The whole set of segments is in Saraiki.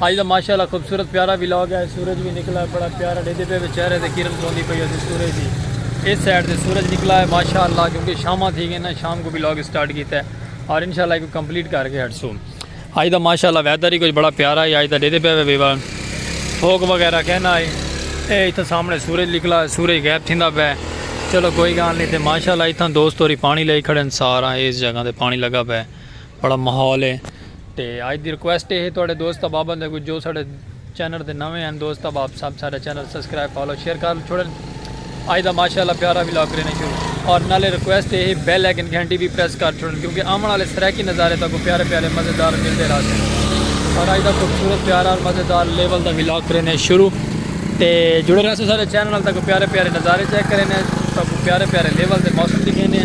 آج دا ماشاء اللہ خوبصورت پیارا وی لاگ ہے سورج وی نکلا ہے بڑا پیارا ڈیدے پہ وچ چہرے دے کرن پوندی پئی ہے سورج دی اس سائیڈ دے سورج نکلا ہے ماشاء اللہ کیونکہ شامہ تھی گئے نا شام کو بھی لاگ سٹارٹ کیتا ہے اور انشاءاللہ ایک کمپلیٹ کر کے ہٹ سو آج دا ماشاء اللہ ویدر ہی کچھ بڑا پیارا ہے آج دا ڈیدے پہ وی بار فوک وغیرہ کہنا ہے اے اتھا سامنے سورج نکلا ہے سورج غیب تھیندا پہ چلو کوئی گال نہیں تھے ماشاء اللہ اتھا دوست ہوری پانی لے کھڑے ہیں سارا اس جگہ دے پانی لگا پہ بڑا ماحول ہے تے آج دی ریکویسٹ ہے تواڈے دوست احباباں دے جو ساڈے چینل تے نویں ہیں دوست احباب سب ساڈا چینل سبسکرائب فالو شیئر کر چھوڑن آج دا ماشاءاللہ پیارا ولاگ کرینے شروع اور نالے ریکویسٹ ہے بیل آئیکن گھنٹی بھی پریس کر چھوڑن کیونکہ آمن والے سرائیکی نظارے تاکو پیارے پیارے مزیدار ملتے رہ سن اور آج دا خوبصورت پیارا اور مزیدار لیول دا ولاگ کرینے شروع تے جڑے رہ سن ساڈے چینل تاکو پیارے پیارے نظارے چیک کرینے تاکو پیارے پیارے لیول دے موسم دکھینے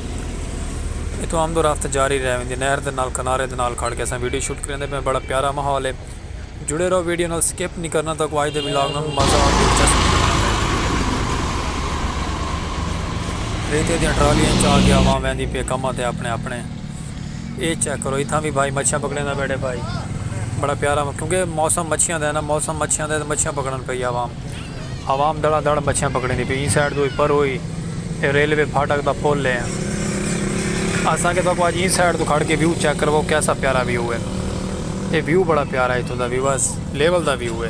اتھوں آمد و رفت جاری رہ ویندی نہر دے نال کنارے دے نال کھڑ کے اساں ویڈیو شوٹ کریندے پئے آں بڑا پیارا ماحول ہے جڑے رہو ویڈیو نال سکپ نی کرنا تہاکوں اج دے ولاگ نال مزہ اور دلچسپ تھی وینا پئے ریتے دیاں ٹرالیاں اچ آ کے عوام ویندی پئے کماں تے اپنے اپنے اے چیک کرو اتھاں وی بھائی مچھیاں پکڑیندا بیٹھے بھائی بڑا پیارا کیونکہ موسم مچھیاں دا ہے نا موسم مچھیاں دا ہے تے مچھیاں پکڑن پئی عوام عوام دھڑا دھڑ مچھیاں پکڑیندی پئی ایں سائیڈ توں اے پرو ہی اے ریلوے پھاٹک دا پل اے اساں کے تہاکوں اج ایں سائیڈ توں کھڑ کے ویو چیک کرواؤ کیسا پیارا ویو اے اے ویو بڑا پیارا اے اتھوں دا ویو اس لیول دا ویو اے۔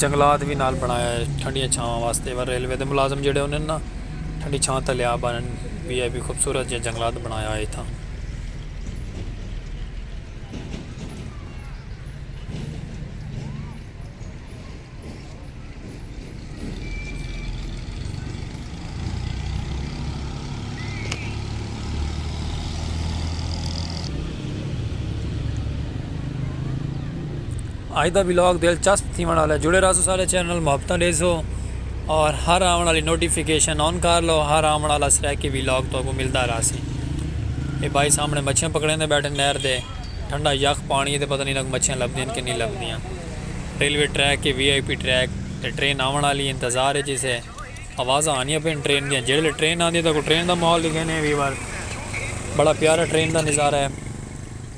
جنگلات وی نال بݨایا ہے ٹھنڈیاں چھاواں واسطے وا ریلوے دے ملازم جیڑھے ہوندے نا ٹھنڈی چھاں تلے آ بہن وی آئی پی خوبصورت جیہاں جنگلات بݨایا ہویا اتھاں اج دا ولاگ دلچسپ تھیونڑ آلا ہے جڑے رہسو سارے چینل نال محبتاں ڈیسو اور ہر آون آلی نوٹیفیکیشن آن کر لو ہر آون آلا سریکی ولاگ تو کو ملدا رہسی اے بھائی سامنے مچھیاں پکڑیندے بیٹھے نہر دے ٹھنڈا یخ پانی تے پتہ نہیں انہاں کو مچھیاں لبدیاں کہ نہیں لبدیاں ریلوے ٹریک تے وی آئی پی ٹریک تے ٹرین آونڑ آلی اے انتظار اچ اسے آوازاں آندیاں پین ٹرین دیاں جیڑلے ٹرین آندی تاکوں ٹرین دا ماحول دکھینے ویور بڑا پیارا ٹرین دا نظارہ اے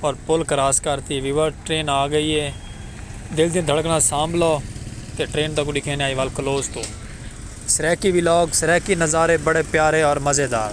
اور پل کراس کر تی ویور ٹرین آ گئی اے دل دیاں دھڑکناں سانبھ لو تے ٹرین تاکوں دکھینے آئی وال کلوز توں۔ سرائیکی ولاگ سرائیکی نظارے بڑے پیارے اور مزیدار۔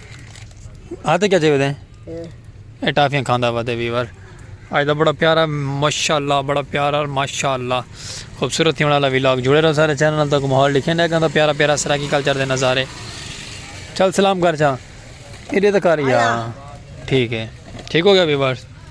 آتے کیا چاہیے ہیں اے ٹافیاں کھاندا ہوا دے ویور آج دا بڑا پیارا ماشاءاللہ بڑا پیارا ماشاءاللہ خوبصورت تھی والا ویلاگ جڑے رہو سارے چینل تک ماحول لکھے نہ گندا پیارا پیارا سراکی کلچر دے نظارے چل سلام کر چا ایڈے تک آ رہی ٹھیک ہے ٹھیک ہو گیا ویور